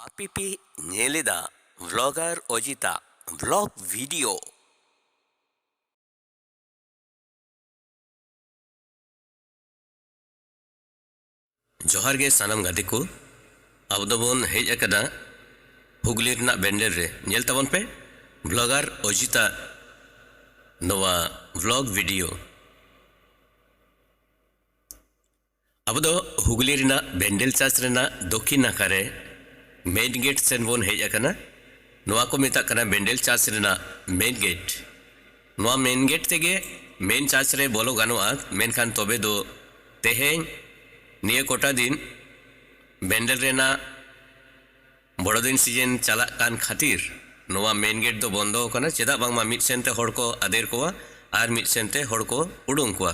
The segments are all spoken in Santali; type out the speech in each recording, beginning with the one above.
ᱟᱯᱮ ᱯᱮ ᱧᱮᱞ ᱮᱫᱟ ᱵᱷᱞᱚᱜᱟᱨ ᱚᱡᱤᱛᱟᱜ ᱵᱷᱞᱚᱜ ᱵᱷᱤᱰᱤᱭᱳ ᱡᱚᱦᱟᱨ ᱜᱮ ᱥᱟᱱᱟᱢ ᱜᱟᱛᱮ ᱠᱚ ᱟᱵᱚ ᱫᱚᱵᱚᱱ ᱦᱮᱡ ᱟᱠᱟᱫᱟ ᱦᱩᱜᱽᱞᱤ ᱨᱮᱱᱟᱜ ᱵᱮᱱᱰᱮᱞ ᱨᱮ ᱧᱮᱞ ᱛᱟᱵᱚᱱ ᱯᱮ ᱵᱷᱞᱚᱜᱟᱨ ᱚᱡᱤᱛᱟ ᱱᱚᱣᱟ ᱵᱷᱞᱚᱜ ᱵᱷᱤᱰᱤᱭᱳ ᱟᱵᱚ ᱫᱚ ᱦᱩᱜᱽᱞᱤ ᱨᱮᱱᱟᱜ ᱵᱮᱱᱰᱮᱞ ᱪᱟᱨᱪ ᱨᱮᱱᱟᱜ ᱫᱚᱠᱷᱤᱱ ᱱᱟᱠᱷᱟ ᱨᱮ ᱢᱮᱱ ᱜᱮᱴ ᱥᱮᱱ ᱵᱚᱱ ᱦᱮᱡ ᱟᱠᱟᱱᱟ᱾ ᱱᱚᱣᱟ ᱠᱚ ᱢᱮᱛᱟᱜ ᱠᱟᱱᱟ ᱵᱮᱱᱰᱮᱞ ᱪᱟᱨᱪ ᱨᱮᱱᱟᱜ ᱢᱮᱱ ᱜᱮᱴ᱾ ᱱᱚᱣᱟ ᱢᱮᱱ ᱜᱮᱴ ᱛᱮᱜᱮ ᱢᱮᱱ ᱪᱟᱨᱪ ᱨᱮ ᱵᱚᱞᱚ ᱜᱟᱱᱚᱜᱼᱟ ᱢᱮᱱᱠᱷᱟᱱ ᱛᱚᱵᱮ ᱫᱚ ᱛᱮᱦᱮᱧ ᱱᱤᱭᱟᱹ ᱠᱚᱴᱟ ᱫᱤᱱ ᱵᱮᱱᱰᱮᱞ ᱨᱮᱱᱟᱜ ᱵᱚᱲᱚ ᱫᱤᱱ ᱥᱤᱡᱮᱱ ᱪᱟᱞᱟᱜ ᱠᱟᱱ ᱠᱷᱟᱹᱛᱤᱨ ᱱᱚᱣᱟ ᱢᱮᱱ ᱜᱮᱴ ᱫᱚ ᱵᱚᱱᱫᱚ ᱟᱠᱟᱱᱟ ᱪᱮᱫᱟᱜ ᱵᱟᱝᱢᱟ ᱢᱤᱫ ᱥᱮᱱ ᱛᱮ ᱦᱚᱲ ᱠᱚ ᱟᱫᱮᱨ ᱠᱚᱣᱟ ᱟᱨ ᱢᱤᱫ ᱥᱮᱱ ᱛᱮ ᱦᱚᱲ ᱠᱚ ᱩᱰᱩᱝ ᱠᱚᱣᱟ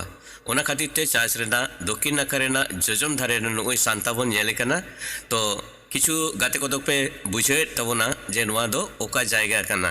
ᱚᱱᱟ ᱠᱷᱟᱹᱛᱤᱨ ᱛᱮ ᱪᱟᱨᱪ ᱨᱮᱱᱟᱜ ᱫᱚᱠᱷᱤᱱ ᱱᱟᱠᱷᱟ ᱨᱮᱱᱟᱜ ᱡᱚᱡᱚᱢ ᱫᱷᱟᱨᱮ ᱨᱮ ᱱᱩᱜᱼᱩᱭ ᱥᱟᱱᱛᱟ ᱵᱚᱱ ᱧᱮᱞᱮ ᱠᱟᱱᱟ ᱛᱚ ᱠᱤᱪᱷᱩ ᱜᱟᱛᱮ ᱠᱚᱫᱚ ᱯᱮ ᱵᱩᱡᱷᱟᱹᱣᱮᱫ ᱛᱟᱵᱚᱱᱟ ᱡᱮ ᱱᱚᱣᱟ ᱫᱚ ᱚᱠᱟ ᱡᱟᱭᱜᱟ ᱠᱟᱱᱟ᱾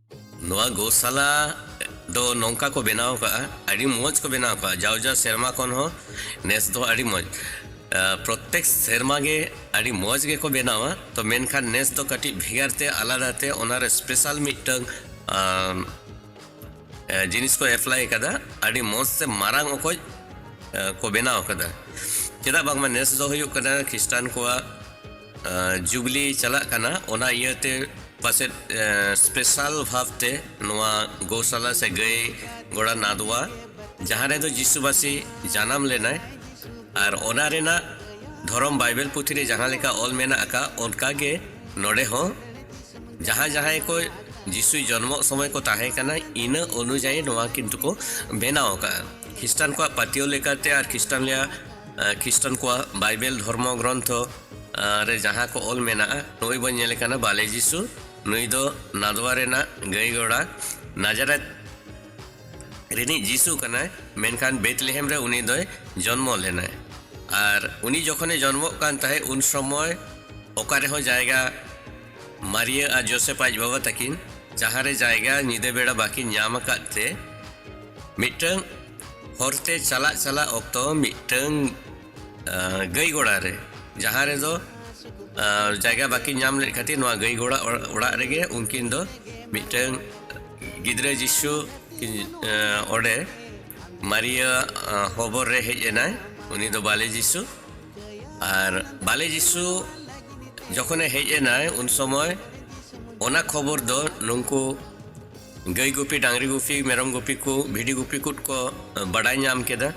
ᱱᱚᱣᱟ ᱜᱳᱥᱟᱞᱟ ᱫᱚ ᱱᱚᱝᱠᱟ ᱠᱚ ᱵᱮᱱᱟᱣ ᱟᱠᱟᱫᱼᱟ ᱟᱹᱰᱤ ᱢᱚᱡᱽ ᱠᱚ ᱵᱮᱱᱟᱣ ᱟᱠᱟᱫᱼᱟ ᱡᱟᱣ ᱡᱟᱣ ᱥᱮᱨᱢᱟ ᱠᱷᱚᱱ ᱦᱚᱸ ᱱᱮᱥ ᱫᱚ ᱟᱹᱰᱤ ᱢᱚᱡᱽ ᱯᱨᱚᱛᱮᱠ ᱥᱮᱨᱢᱟ ᱜᱮ ᱟᱹᱰᱤ ᱢᱚᱡᱽ ᱜᱮᱠᱚ ᱵᱮᱱᱟᱣᱟ ᱛᱚ ᱢᱮᱱᱠᱷᱟᱱ ᱱᱮᱥ ᱫᱚ ᱠᱟᱹᱴᱤᱡ ᱵᱷᱮᱜᱟᱨ ᱛᱮ ᱟᱞᱟᱫᱟ ᱛᱮ ᱚᱱᱟᱨᱮ ᱥᱯᱮᱥᱟᱞ ᱢᱤᱫᱴᱟᱝ ᱡᱤᱱᱤᱥ ᱠᱚ ᱮᱯᱞᱟᱭ ᱟᱠᱟᱫᱟ ᱟᱹᱰᱤ ᱢᱚᱡᱽ ᱛᱮ ᱢᱟᱨᱟᱝ ᱚᱠᱚᱡ ᱠᱚ ᱵᱮᱱᱟᱣ ᱟᱠᱟᱫᱟ ᱪᱮᱫᱟᱜ ᱵᱟᱝᱢᱟ ᱱᱮᱥ ᱫᱚ ᱦᱩᱭᱩᱜ ᱠᱟᱱᱟ ᱠᱷᱨᱤᱥᱴᱟᱱ ᱠᱚᱣᱟᱜ ᱡᱩᱵᱽᱞᱤ ᱪᱟᱞᱟᱜ ᱠᱟᱱᱟ ᱚᱱᱟ ᱤᱭᱟᱹᱛᱮ ᱯᱟᱥᱮᱡ ᱥᱯᱮᱥᱟᱞ ᱵᱷᱟᱵᱽᱛᱮ ᱱᱚᱣᱟ ᱜᱳᱥᱟᱞᱟ ᱥᱮ ᱜᱟᱹᱭ ᱜᱚᱲᱟ ᱱᱟᱫᱽᱣᱟ ᱡᱟᱦᱟᱸ ᱨᱮᱫᱚ ᱡᱤᱥᱩ ᱵᱟᱥᱤ ᱡᱟᱱᱟᱢ ᱞᱮᱱᱟᱭ ᱟᱨ ᱚᱱᱟ ᱨᱮᱱᱟᱜ ᱫᱷᱚᱨᱚᱢ ᱵᱟᱭᱵᱮᱞ ᱯᱩᱛᱷᱤ ᱨᱮ ᱡᱟᱦᱟᱸ ᱞᱮᱠᱟ ᱚᱞ ᱢᱮᱱᱟᱜ ᱟᱠᱟᱫ ᱚᱱᱠᱟ ᱜᱮ ᱱᱚᱰᱮ ᱦᱚᱸ ᱡᱟᱦᱟᱸ ᱡᱟᱦᱟᱸᱭ ᱠᱚ ᱡᱤᱥᱩ ᱡᱚᱱᱢᱚᱜ ᱥᱚᱢᱚᱭ ᱠᱚ ᱛᱟᱦᱮᱸ ᱠᱟᱱᱟ ᱤᱱᱟᱹ ᱚᱱᱩᱡᱟᱭᱤ ᱱᱚᱣᱟ ᱠᱤᱱᱛᱩ ᱠᱚ ᱵᱮᱱᱟᱣ ᱟᱠᱟᱫᱼᱟ ᱠᱷᱨᱤᱥᱴᱟᱱ ᱠᱚᱣᱟᱜ ᱯᱟᱹᱛᱭᱟᱹᱣ ᱞᱮᱠᱟᱛᱮ ᱟᱨ ᱠᱷᱨᱤᱥᱴᱟᱱ ᱨᱮᱭᱟᱜ ᱠᱷᱨᱤᱥᱴᱟᱱ ᱠᱚᱣᱟᱜ ᱵᱟᱭᱵᱮᱞ ᱫᱷᱚᱨᱢᱚ ᱜᱨᱚᱱᱛᱷᱚ ᱨᱮ ᱡᱟᱦᱟᱸ ᱠᱚ ᱚᱞ ᱢᱮᱱᱟᱜᱼᱟ ᱱᱩᱭ ᱵᱚᱱ ᱧᱮᱞᱮ ᱠᱟᱱᱟ ᱵᱟᱞᱮ ᱡᱤᱥᱩ ᱱᱩᱭ ᱫᱚ ᱱᱟᱫᱽᱣᱟ ᱨᱮᱱᱟᱜ ᱜᱟᱹᱭ ᱜᱚᱲᱟ ᱱᱟᱡᱟᱨᱮᱛ ᱨᱤᱱᱤᱡ ᱡᱤᱥᱩ ᱠᱟᱱᱟᱭ ᱢᱮᱱᱠᱷᱟᱱ ᱵᱮᱛᱞᱮᱦᱮᱢ ᱨᱮ ᱩᱱᱤ ᱫᱚᱭ ᱡᱚᱱᱢᱚ ᱞᱮᱱᱟᱭ ᱟᱨ ᱩᱱᱤ ᱡᱚᱠᱷᱚᱱᱮ ᱡᱚᱱᱢᱚᱜ ᱠᱟᱱ ᱛᱟᱦᱮᱸᱫ ᱩᱱ ᱥᱚᱢᱚᱭ ᱚᱠᱟ ᱨᱮᱦᱚᱸ ᱡᱟᱭᱜᱟ ᱢᱟᱨᱤᱭᱟᱹ ᱟᱨ ᱡᱳᱥᱮᱯ ᱟᱡ ᱵᱟᱵᱟ ᱛᱟᱹᱠᱤᱱ ᱡᱟᱦᱟᱸ ᱨᱮ ᱡᱟᱭᱜᱟ ᱧᱤᱫᱟᱹ ᱵᱮᱲᱟ ᱵᱟᱹᱠᱤᱱ ᱧᱟᱢ ᱟᱠᱟᱫ ᱛᱮ ᱢᱤᱫᱴᱟᱝ ᱦᱚᱨ ᱛᱮ ᱪᱟᱞᱟᱜ ᱪᱟᱞᱟᱜ ᱚᱠᱛᱚ ᱢᱤᱫᱴᱟᱹᱝ ᱜᱟᱹᱭ ᱜᱚᱲᱟ ᱨᱮ ᱡᱟᱦᱟᱸ ᱨᱮᱫᱚ ᱡᱟᱭᱜᱟ ᱵᱟᱹᱠᱤᱱ ᱧᱟᱢ ᱞᱮᱫ ᱠᱷᱟᱹᱛᱤᱨ ᱱᱚᱣᱟ ᱜᱟᱹᱭ ᱜᱚᱲᱟ ᱚᱲᱟᱜ ᱨᱮᱜᱮ ᱩᱱᱠᱤᱱ ᱫᱚ ᱢᱤᱫᱴᱟᱹᱝ ᱜᱤᱫᱽᱨᱟᱹ ᱡᱤᱥᱩ ᱚᱸᱰᱮ ᱢᱟᱨᱤᱭᱟ ᱦᱚᱵᱚᱨ ᱨᱮ ᱦᱮᱡ ᱮᱱᱟᱭ ᱩᱱᱤ ᱫᱚ ᱵᱟᱞᱮ ᱡᱤᱥᱩ ᱟᱨ ᱵᱟᱞᱮ ᱡᱤᱥᱩ ᱡᱚᱠᱷᱚᱱᱮ ᱦᱮᱡ ᱮᱱᱟᱭ ᱩᱱ ᱥᱚᱢᱚᱭ ᱚᱱᱟ ᱠᱷᱚᱵᱚᱨ ᱫᱚ ᱱᱩᱝᱠᱩ ᱜᱟᱹᱭ ᱜᱩᱯᱤ ᱰᱟᱝᱨᱤ ᱜᱩᱯᱤ ᱢᱮᱨᱚᱢ ᱜᱩᱯᱤ ᱠᱚ ᱵᱷᱤᱰᱤ ᱜᱩᱯᱤ ᱠᱚ ᱠᱚ ᱵᱟᱰᱟᱭ ᱧᱟᱢ ᱠᱮᱫᱟ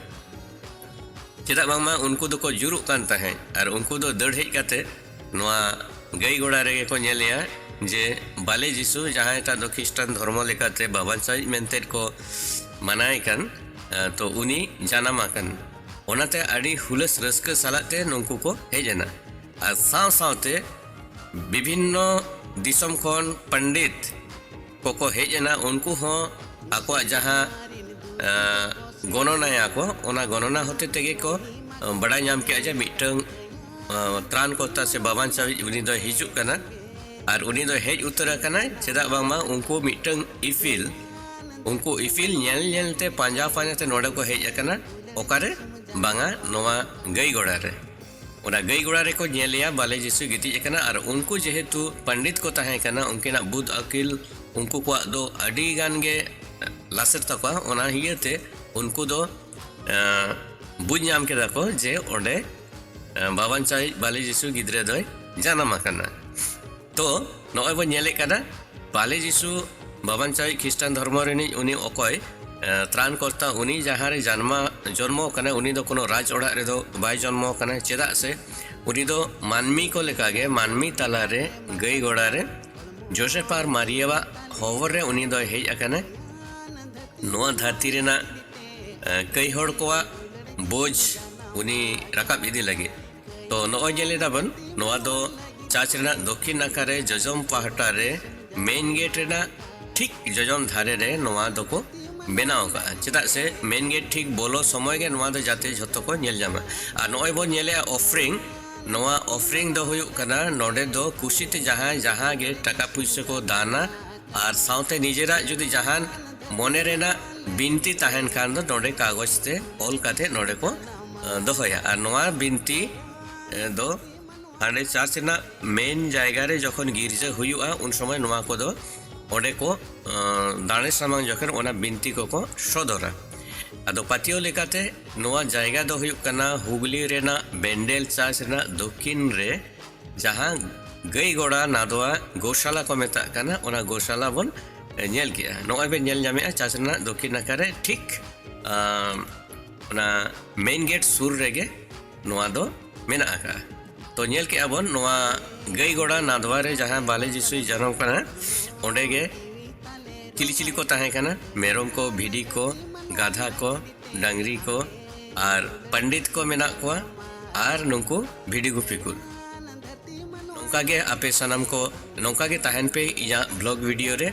ᱪᱮᱫᱟᱜ ᱵᱟᱝᱢᱟ ᱩᱱᱠᱩ ᱫᱚᱠᱚ ᱡᱩᱨᱩᱜ ᱠᱟᱱ ᱛᱟᱦᱮᱸᱫ ᱟᱨ ᱩᱱᱠᱩ ᱫᱚ ᱫᱟᱹᱲ ᱦᱮᱡ ᱠᱟᱛᱮ ᱱᱚᱣᱟ ᱜᱟᱹᱭ ᱜᱚᱲᱟ ᱨᱮᱜᱮ ᱠᱚ ᱧᱮᱞᱮᱭᱟ ᱡᱮ ᱵᱟᱞᱮ ᱡᱤᱥᱩ ᱡᱟᱦᱟᱸᱭ ᱴᱟᱜ ᱫᱚ ᱠᱷᱤᱥᱴᱟᱱ ᱫᱷᱚᱨᱢᱚ ᱞᱮᱠᱟᱛᱮ ᱵᱟᱵᱟᱱᱥᱟᱭᱤᱡ ᱢᱮᱱᱛᱮ ᱠᱚ ᱢᱟᱱᱟᱭ ᱠᱟᱱ ᱛᱚ ᱩᱱᱤ ᱡᱟᱱᱟᱢ ᱟᱠᱟᱱ ᱚᱱᱟᱛᱮ ᱟᱹᱰᱤ ᱦᱩᱞᱟᱹᱥ ᱨᱟᱹᱥᱠᱟᱹ ᱥᱟᱞᱟᱜ ᱛᱮ ᱱᱩᱠᱩ ᱠᱚ ᱦᱮᱡ ᱮᱱᱟ ᱟᱨ ᱥᱟᱶ ᱥᱟᱶᱛᱮ ᱵᱤᱵᱷᱤᱱᱱᱚ ᱫᱤᱥᱚᱢ ᱠᱷᱚᱱ ᱯᱚᱱᱰᱤᱛ ᱠᱚᱠᱚ ᱦᱮᱡ ᱮᱱᱟ ᱩᱱᱠᱩ ᱦᱚᱸ ᱟᱠᱚᱣᱟᱜ ᱡᱟᱦᱟᱸ ᱜᱚᱱᱚᱱᱟᱭᱟ ᱠᱚ ᱚᱱᱟ ᱜᱚᱱᱚᱱᱟ ᱦᱚᱛᱮ ᱛᱮᱜᱮ ᱠᱚ ᱵᱟᱰᱟᱭ ᱧᱟᱢ ᱠᱮᱜᱼᱟ ᱡᱮ ᱢᱤᱫᱴᱟᱝ ᱛᱨᱟᱱ ᱠᱚᱨᱛᱟ ᱥᱮ ᱵᱟᱵᱟᱱ ᱥᱟᱹᱦᱤᱡ ᱩᱱᱤ ᱫᱚᱭ ᱦᱤᱡᱩᱜ ᱠᱟᱱᱟ ᱟᱨ ᱩᱱᱤ ᱫᱚ ᱦᱮᱡ ᱩᱛᱟᱹᱨ ᱟᱠᱟᱱᱟᱭ ᱪᱮᱫᱟᱜ ᱵᱟᱝᱢᱟ ᱩᱱᱠᱩ ᱢᱤᱫᱴᱟᱝ ᱤᱯᱤᱞ ᱩᱱᱠᱩ ᱤᱯᱤᱞ ᱧᱮᱞ ᱧᱮᱞᱛᱮ ᱯᱟᱸᱡᱟ ᱯᱟᱸᱡᱟᱛᱮ ᱱᱚᱰᱮ ᱠᱚ ᱦᱮᱡ ᱟᱠᱟᱱᱟ ᱚᱠᱟᱨᱮ ᱵᱟᱝᱟ ᱱᱚᱣᱟ ᱜᱟᱹᱭ ᱜᱚᱲᱟ ᱨᱮ ᱚᱱᱟ ᱜᱟᱹᱭ ᱜᱚᱲᱟ ᱨᱮᱠᱚ ᱧᱮᱞᱮᱭᱟ ᱵᱟᱞᱮ ᱡᱤᱥᱩᱭ ᱜᱤᱛᱤᱡ ᱟᱠᱟᱱᱟ ᱟᱨ ᱩᱱᱠᱩ ᱡᱮᱦᱮᱛᱩ ᱯᱚᱱᱰᱤᱛ ᱠᱚ ᱛᱟᱦᱮᱸ ᱠᱟᱱᱟ ᱩᱱᱠᱤᱱᱟᱜ ᱵᱩᱫ ᱟᱹᱠᱤᱞ ᱩᱱᱠᱩ ᱠᱚᱣᱟᱜ ᱫᱚ ᱟᱹᱰᱤ ᱜᱟᱱ ᱜᱮ ᱞᱟᱥᱮᱨ ᱛᱟᱠᱚᱣᱟ ᱚᱱᱟ ᱤᱭᱟᱹᱛᱮ ᱩᱱᱠᱩ ᱫᱚ ᱵᱩᱡᱽ ᱧᱟᱢ ᱠᱮᱫᱟ ᱠᱚ ᱡᱮ ᱚᱸᱰᱮ ᱵᱟᱵᱟᱱᱪᱟᱭᱤᱡ ᱵᱟᱞᱮ ᱡᱤᱥᱩ ᱜᱤᱫᱽᱨᱟᱹ ᱫᱚᱭ ᱡᱟᱱᱟᱢ ᱟᱠᱟᱱᱟ ᱛᱚ ᱱᱚᱜᱼᱚᱭ ᱵᱚᱱ ᱧᱮᱞᱮᱫ ᱠᱟᱱᱟ ᱵᱟᱞᱮ ᱡᱤᱥᱩ ᱵᱟᱵᱟᱱ ᱪᱟᱣᱤᱡ ᱠᱷᱨᱤᱥᱴᱟᱱ ᱫᱷᱚᱨᱢᱚ ᱨᱤᱱᱤᱡ ᱩᱱᱤ ᱚᱠᱚᱭ ᱛᱨᱟᱱ ᱠᱚᱨᱛᱟ ᱩᱱᱤ ᱡᱟᱦᱟᱸ ᱨᱮ ᱡᱟᱱᱢᱟ ᱡᱚᱱᱢᱚ ᱠᱟᱱᱟ ᱩᱱᱤ ᱫᱚ ᱠᱳᱱᱳ ᱨᱟᱡᱽ ᱚᱲᱟᱜ ᱨᱮᱫᱚ ᱵᱟᱭ ᱡᱚᱱᱢᱚ ᱠᱟᱱᱟ ᱪᱮᱫᱟᱜ ᱥᱮ ᱩᱱᱤ ᱫᱚ ᱢᱟᱹᱱᱢᱤ ᱠᱚ ᱞᱮᱠᱟᱜᱮ ᱢᱟᱹᱱᱢᱤ ᱛᱟᱞᱟᱨᱮ ᱜᱟᱹᱭ ᱜᱚᱲᱟ ᱨᱮ ᱡᱳᱥᱮᱯ ᱟᱨ ᱢᱟᱨᱤᱭᱟᱣᱟᱜ ᱦᱚᱦᱚᱨ ᱨᱮ ᱩᱱᱤ ᱫᱚᱭ ᱦᱮᱡ ᱟᱠᱟᱱᱟ ᱱᱚᱣᱟ ᱫᱷᱟᱹᱨᱛᱤ ᱨᱮᱱᱟᱜ ᱠᱟᱹᱭ ᱦᱚᱲ ᱠᱚᱣᱟᱜ ᱵᱳᱡᱽ ᱩᱱᱤ ᱨᱟᱠᱟᱵ ᱤᱫᱤ ᱞᱟᱹᱜᱤᱫ ᱛᱚ ᱱᱚᱜᱼᱚᱭ ᱧᱮᱞ ᱮᱫᱟ ᱵᱚᱱ ᱱᱚᱣᱟ ᱫᱚ ᱪᱟᱨᱪ ᱨᱮᱱᱟᱜ ᱫᱚᱠᱷᱤᱱ ᱱᱟᱠᱷᱟ ᱨᱮ ᱡᱚᱡᱚᱢ ᱯᱟᱦᱴᱟ ᱨᱮ ᱢᱮᱱ ᱜᱮᱴ ᱨᱮᱱᱟᱜ ᱴᱷᱤᱠ ᱡᱚᱡᱚᱢ ᱫᱷᱟᱨᱮ ᱨᱮ ᱱᱚᱣᱟ ᱫᱚᱠᱚ ᱵᱮᱱᱟᱣ ᱟᱠᱟᱫᱼᱟ ᱪᱮᱫᱟᱜ ᱥᱮ ᱢᱮᱱ ᱜᱮᱴ ᱴᱷᱤᱠ ᱵᱚᱞᱚ ᱥᱚᱢᱚᱭ ᱜᱮ ᱱᱚᱣᱟ ᱫᱚ ᱡᱟᱛᱮ ᱡᱷᱚᱛᱚ ᱠᱚ ᱧᱮᱞ ᱧᱟᱢᱟ ᱟᱨ ᱱᱚᱜᱼᱚᱭ ᱵᱚᱱ ᱧᱮᱞᱮᱜᱼᱟ ᱚᱯᱷᱨᱤᱝ ᱱᱚᱣᱟ ᱚᱯᱷᱨᱤᱝ ᱫᱚ ᱦᱩᱭᱩᱜ ᱠᱟᱱᱟ ᱱᱚᱰᱮ ᱫᱚ ᱠᱩᱥᱤᱛᱮ ᱡᱟᱦᱟᱸᱭ ᱡᱟᱦᱟᱸ ᱜᱮ ᱴᱟᱠᱟ ᱯᱩᱭᱥᱟᱹ ᱠᱚ ᱫᱟᱱᱟ ᱟᱨ ᱥᱟᱶᱛᱮ ᱱᱤᱡᱮᱨᱟᱜ ᱡᱩᱫᱤ ᱡᱟᱦᱟᱱ ᱢᱚᱱᱮ ᱨᱮᱱᱟᱜ ᱵᱤᱱᱛᱤ ᱛᱟᱦᱮᱱ ᱠᱷᱟᱱ ᱫᱚ ᱱᱚᱰᱮ ᱠᱟᱜᱚᱡᱽ ᱛᱮ ᱚᱞ ᱠᱟᱛᱮ ᱱᱚᱰᱮ ᱠᱚ ᱫᱚᱦᱚᱭᱟ ᱟᱨ ᱱᱚᱣᱟ ᱵᱤᱱᱛᱤ ᱫᱚ ᱦᱟᱸᱰᱮ ᱪᱟᱨᱪ ᱨᱮᱱᱟᱜ ᱢᱮᱱ ᱡᱟᱭᱜᱟ ᱨᱮ ᱡᱚᱠᱷᱚᱱ ᱜᱤᱨᱡᱟᱹ ᱦᱩᱭᱩᱜᱼᱟ ᱩᱱ ᱥᱚᱢᱚᱭ ᱱᱚᱣᱟ ᱠᱚᱫᱚ ᱚᱸᱰᱮ ᱠᱚ ᱫᱟᱲᱮ ᱥᱟᱢᱟᱝ ᱡᱚᱠᱷᱚᱱ ᱚᱱᱟ ᱵᱤᱱᱛᱤ ᱠᱚᱠᱚ ᱥᱚᱫᱚᱨᱟ ᱟᱫᱚ ᱯᱟᱹᱛᱭᱟᱹᱣ ᱞᱮᱠᱟᱛᱮ ᱱᱚᱣᱟ ᱡᱟᱭᱜᱟ ᱫᱚ ᱦᱩᱭᱩᱜ ᱠᱟᱱᱟ ᱦᱩᱜᱽᱞᱤ ᱨᱮᱱᱟᱜ ᱵᱮᱱᱰᱮᱞ ᱪᱟᱨᱪ ᱨᱮᱱᱟᱜ ᱫᱚᱠᱠᱷᱤᱱ ᱨᱮ ᱡᱟᱦᱟᱸ ᱜᱟᱹᱭ ᱜᱚᱲᱟ ᱱᱟᱫᱣᱟ ᱜᱳᱥᱟᱞᱟ ᱠᱚ ᱢᱮᱛᱟᱜ ᱠᱟᱱᱟ ᱚᱱᱟ ᱜᱳᱥᱟᱞᱟ ᱵᱚᱱ ᱧᱮᱞ ᱠᱮᱜᱼᱟ ᱱᱚᱜᱼᱚᱭ ᱵᱮᱱ ᱧᱮᱞ ᱧᱟᱢᱮᱜᱼᱟ ᱪᱟᱨᱪ ᱨᱮᱱᱟᱜ ᱫᱚᱠᱠᱷᱤᱱ ᱱᱟᱠᱷᱟ ᱨᱮ ᱴᱷᱤᱠ ᱚᱱᱟ ᱢᱮᱱ ᱜᱮᱴ ᱥᱩᱨ ᱨᱮᱜᱮ ᱱᱚᱣᱟ ᱫᱚ ᱢᱮᱱᱟᱜ ᱟᱠᱟᱫᱼᱟ ᱛᱚ ᱧᱮᱞ ᱠᱮᱜᱼᱟ ᱵᱚᱱ ᱱᱚᱣᱟ ᱜᱟᱹᱭ ᱜᱚᱲᱟ ᱱᱟᱫᱷᱣᱟ ᱨᱮ ᱡᱟᱦᱟᱸ ᱵᱟᱞᱮ ᱡᱤᱥᱩᱭ ᱡᱟᱱᱟᱢ ᱠᱟᱱᱟ ᱚᱸᱰᱮ ᱜᱮ ᱪᱤᱞᱤ ᱪᱤᱞᱤ ᱠᱚ ᱛᱟᱦᱮᱸ ᱠᱟᱱᱟ ᱢᱮᱨᱚᱢ ᱠᱚ ᱵᱷᱤᱰᱤ ᱠᱚ ᱜᱟᱫᱷᱟ ᱠᱚ ᱰᱟᱝᱨᱤ ᱠᱚ ᱟᱨ ᱯᱚᱱᱰᱤᱛ ᱠᱚ ᱢᱮᱱᱟᱜ ᱠᱚᱣᱟ ᱟᱨ ᱱᱩᱠᱩ ᱵᱷᱤᱰᱤ ᱜᱩᱯᱤ ᱠᱚ ᱱᱚᱝᱠᱟ ᱜᱮ ᱟᱯᱮ ᱥᱟᱱᱟᱢ ᱠᱚ ᱱᱚᱝᱠᱟ ᱜᱮ ᱛᱟᱦᱮᱱ ᱯᱮ ᱤᱧᱟᱹᱜ ᱵᱞᱚᱜ ᱵᱷᱤᱰᱤᱭᱳ ᱨᱮ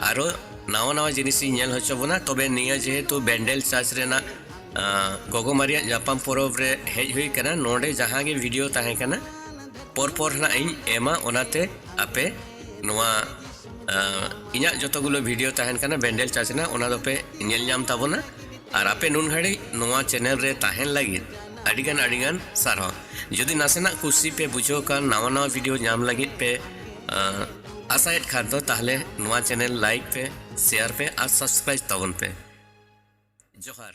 ᱟᱨᱚ ᱱᱟᱣᱟ ᱱᱟᱣᱟ ᱡᱤᱱᱤᱥ ᱤᱧ ᱧᱮᱞ ᱦᱚᱪᱚ ᱵᱚᱱᱟ ᱛᱚᱵᱮ ᱱᱤᱭᱟᱹ ᱡᱮᱦᱮᱛᱩ ᱵᱮᱱᱰᱮᱞ ᱪᱟᱨᱪ ᱨᱮᱱᱟᱜ ᱜᱚᱜᱚ ᱢᱟᱨᱤᱭᱟᱜ ᱧᱟᱯᱟᱢ ᱯᱚᱨᱚᱵᱽ ᱨᱮ ᱦᱮᱡ ᱦᱩᱭ ᱠᱟᱱᱟ ᱱᱚᱰᱮ ᱡᱟᱦᱟᱸ ᱜᱮ ᱵᱷᱤᱰᱤᱭᱳ ᱛᱟᱦᱮᱸ ᱠᱟᱱᱟ ᱯᱚᱨ ᱯᱚᱨ ᱱᱟᱜ ᱤᱧ ᱮᱢᱟ ᱚᱱᱟᱛᱮ ᱟᱯᱮ ᱱᱚᱣᱟ ᱤᱧᱟᱹᱜ ᱡᱚᱛᱚ ᱜᱩᱞᱳ ᱵᱷᱤᱰᱤᱭᱳ ᱛᱟᱦᱮᱱ ᱠᱟᱱᱟ ᱵᱮᱱᱰᱮᱞ ᱪᱟᱨᱪ ᱨᱮᱱᱟᱜ ᱚᱱᱟ ᱫᱚᱯᱮ ᱧᱮᱞ ᱧᱟᱢ ᱛᱟᱵᱚᱱᱟ ᱟᱨ ᱟᱯᱮ ᱱᱩᱱ ᱜᱷᱟᱹᱲᱤᱡ ᱱᱚᱣᱟ ᱪᱮᱱᱮᱞ ᱨᱮ ᱛᱟᱦᱮᱱ ᱞᱟᱹᱜᱤᱫ ᱟᱹᱰᱤᱜᱟᱱ ᱟᱹᱰᱤᱜᱟᱱ ᱥᱟᱨᱦᱟᱣ ᱡᱩᱫᱤ ᱱᱟᱥᱮᱱᱟᱜ ᱠᱩᱥᱤ ᱯᱮ ᱵᱩᱡᱷᱟᱹᱣ ᱠᱟᱱ ᱱᱟᱣᱟ ᱱᱟᱣᱟ ᱵᱷᱤᱰᱤᱭᱳ ᱧᱟᱢ ᱞᱟᱹᱜᱤᱫ ᱯᱮ ᱟᱥᱟᱭᱮᱫ ᱠᱷᱟᱱ ᱫᱚ ᱛᱟᱦᱞᱮ ᱱᱚᱣᱟ ᱪᱮᱱᱮᱞ ᱞᱟᱭᱤᱠ ᱯᱮ ᱥᱮᱭᱟᱨ ᱯᱮ ᱟᱨ ᱥᱟᱵᱥᱠᱨᱟᱭᱤᱵ ᱛᱟᱵᱚᱱ ᱯᱮ ᱡᱚᱦᱟᱨ